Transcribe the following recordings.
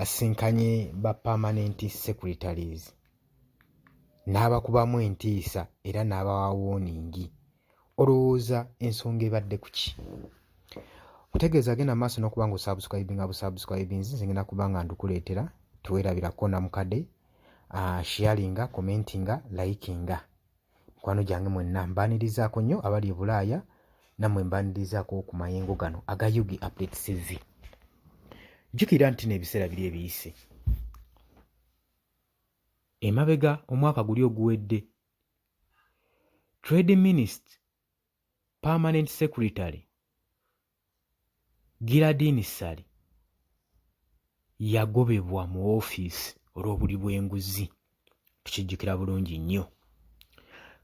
asisinkanye ba permanent secretaries n'abakubamu entiisa era n'abawa wooningi olowooza ensonga ebadde ku ki mutegeeza agenda maaso n'okuba nga osubscribinga busubscribinzi nze ngenda kuba nga ndukuleetera teweerabirako namukade uh, ah, sharinga commentinga likinga Mikwano gyange mwenna mbaanirizaako nnyo abali e Bulaaya nammwe mbaanirizaako ku mayengo gano aga UG Update TV. Jjukira nti n'ebiseera biri ebiyise. Emabega omwaka guli oguwedde, Trade Minister permanent secretary Giladini Ssali yagobebwa mu ofiisi olw'obuli bw'enguzi tukijjukira bulungi nnyo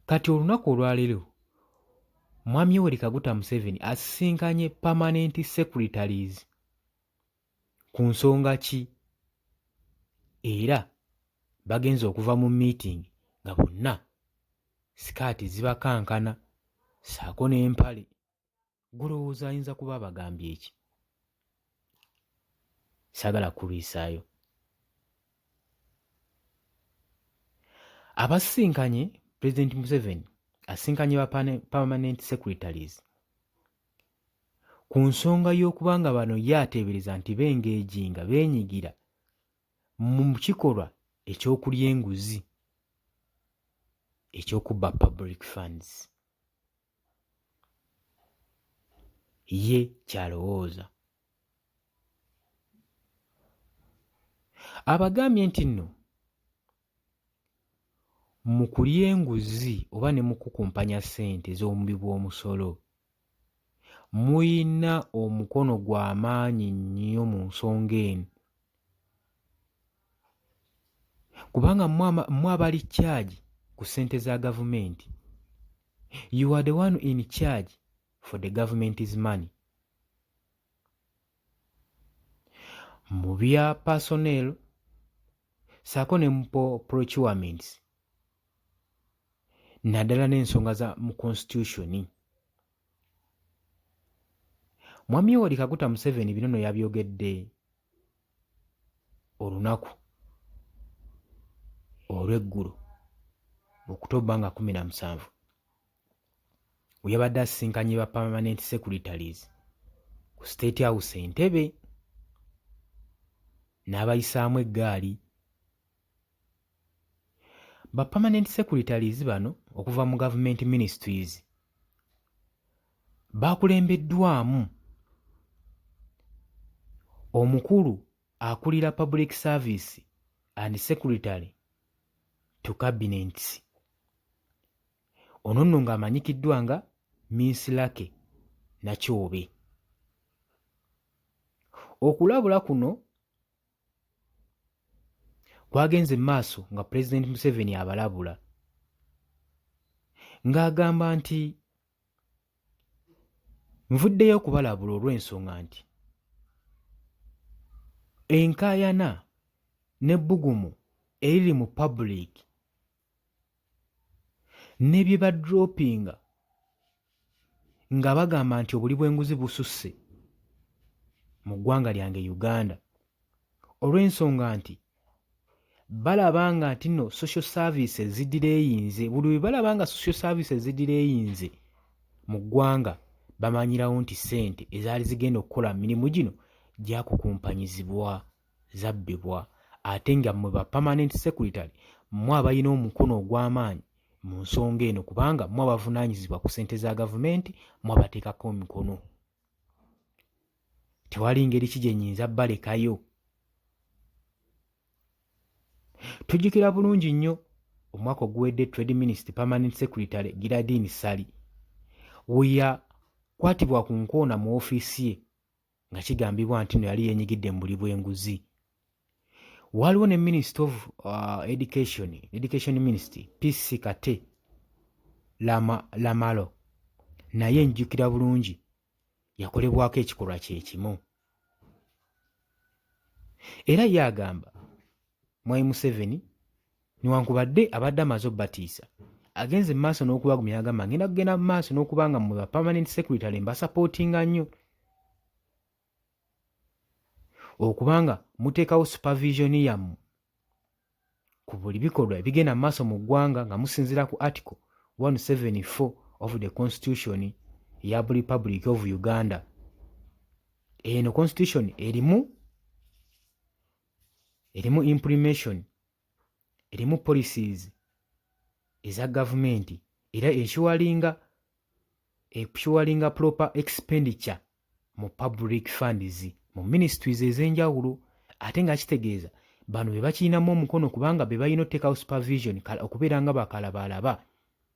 kati olunaku olwaleero mwami yoweri kaguta museveni asisinkanye permanent secretaries ku nsonga ki era bagenze okuva mu miitingi nga bonna sikaati zibakankana ssaako n'empale gulowooza ayinza kuba abagambye eki saagala kulwisaayo abasisinkanye pulezidenti museveni asisinkanye ba permanent secretaries ku nsonga y'okuba nga bano ye ateebereza nti b'eng'eji nga beenyigira mu kikolwa eky'okulya enguzi eky'okubba Public Funds ye ky'alowooza. Abagambye nti nno mu kulya enguzi oba ne mukukumpanya ssente z'omubi bw'omusolo muyina omukono gwa maanyi nnyo mu nsonga eno kubanga mwe abali kyagi ku ssente za gavumenti you are the one in charge for the government is money mu bya personnel saako ne mu procurements naddala n'ensonga za mu constitution mwami yoweri kaguta museveni bino no yabyogedde olunaku olw'eggulo okutobba nga kumi na musanvu we yabadde asisinkanye ba permanent secretaries ku state house entebe n'abayisaamu eggaali ba permanent secretaries bano okuva mu government ministries baakulembeddwamu omukulu akulira public service and secretary to cabinets Ono nno ng'amanyikiddwa nga Miss Lucky Nakyobe. Okulabula kuno kwagenze mu maaso nga Pulezidenti Museveni abalabula ng'agamba nti nvuddeyo okubalabula olw'ensonga nti enkaayana n'ebbugumu eriri mu pabuliiki ne bye badropinga nga bagamba nti obuli bw'enguzi bususse mu ggwanga lyange Uganda olw'ensonga nti balaba nga nti no social services ziddira eyinze buli bwe balaba nga social services ziddira eyinze mu ggwanga bamanyirawo nti ssente ezaali zigenda okukola mirimu gino gyakukumpanyizibwa. zabbibwa ate nga mwe ba permanent secretary mwe abalina omukono ogw'amaanyi mu nsonga eno kubanga mwe abavunaanyizibwa ku ssente za gavumenti mwe abateekako emikono tewali ngeri ki gye nyinza balekayo tujjukira bulungi nnyo omwaka oguwedde trade minister permanent secretary giradin sali weyakwatibwa ku nkoona mu ofiisi ye nga kigambibwa nti no yali yenyigidde mu buli bw'enguzi waliwo ne minist of uh, education education minist pc kate lama, lamalo naye njjukira bulungi yakolebwako ekikolwa kyekimu era ye agamba mwai museveni Newankubadde abadde amaze obbatiisa, agenze mu maaso n'okubagumya agamba ngenda kugenda mu maaso n'okuba nga mwe ba permanent secretary mbasapootinga nnyo okubanga muteekawo supervision yammwe ku buli bikolwa ebigenda mu maaso mu ggwanga nga musinziira ku article 174 of the constitution ya republic of uganda eno constitution erimu erimu imprimation erimu policies eza gavumenti era ensuwalinga ensuwalinga proper expenditure mu public funds mu ministries ez'enjawulo ate nga kitegeeza bano be bakirinamu omukono kubanga be balina oteekawo supervision okubeera nga bakalabaalaba.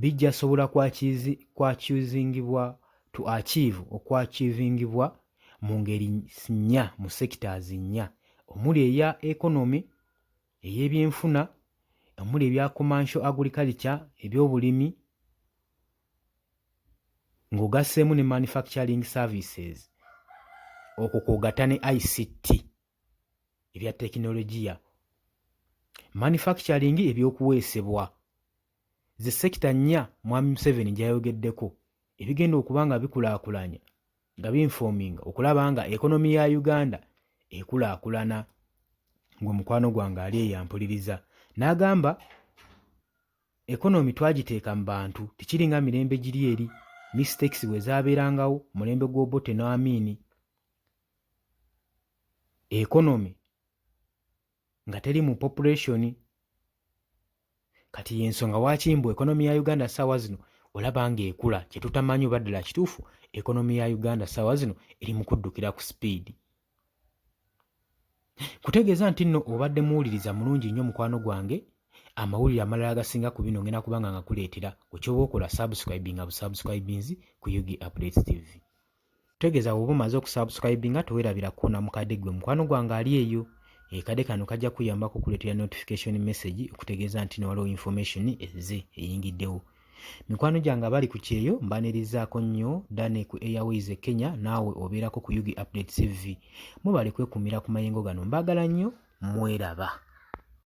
bijjasobola kwachiuzingibwa to achieve okwachiuvingibwa mu ngeri nnya mu sectors nnya omuli eya economy, ey'ebyenfuna, omuli ebya commercial agriculture, ebyobulimi, ng'ogasseemu ne manufacturing services, okwo kw'ogatta ne ICT. ebya tekinologiya, manufacturing, ebyokuweesebwa ze sekita nnya Mwami Museveni gyayogeddeko ebigenda okuba nga bikulaakulanya nga binfoominga okulaba nga ekonomi ya Uganda ekulaakulana ng'omukwano gwange ali eyampuliriza n'agamba ekonomi twagiteeka mu bantu tekiringa mirembe giri eri mistakes bwe zaabeerangawo mulembe gw'obote n'amiini economy nga teri mu population kati yensonga waki mbu economy ya uganda saawa zino olaba nga ekula kyetutamanyi oba ddala kituufu economy ya uganda saawa zino eri mu kuddukira ku speed kutegeeza nti nno obadde muwuliriza mulungi nnyo mukwano gwange amawulire amalala agasinga ku bino ngenda kubanga ngakuleetera okyoba okola subscribinga busubscribinzi ku ug updates tv Tegeza woba omaze okusubscribinga tewerabira kukona mukade gwe mukwano gwange ali eyo ekade kano kajja kuyambako okuleetera notification message okutegeeza nti newaliwo information ezze eyingiddewo mikwano gyange abali ku kyeyo mbanirizaako nnyo dane ku airways e kenya naawe obeerako ku ug update cv mubale kwekumira ku mayengo gano mbaagala nnyo mweraba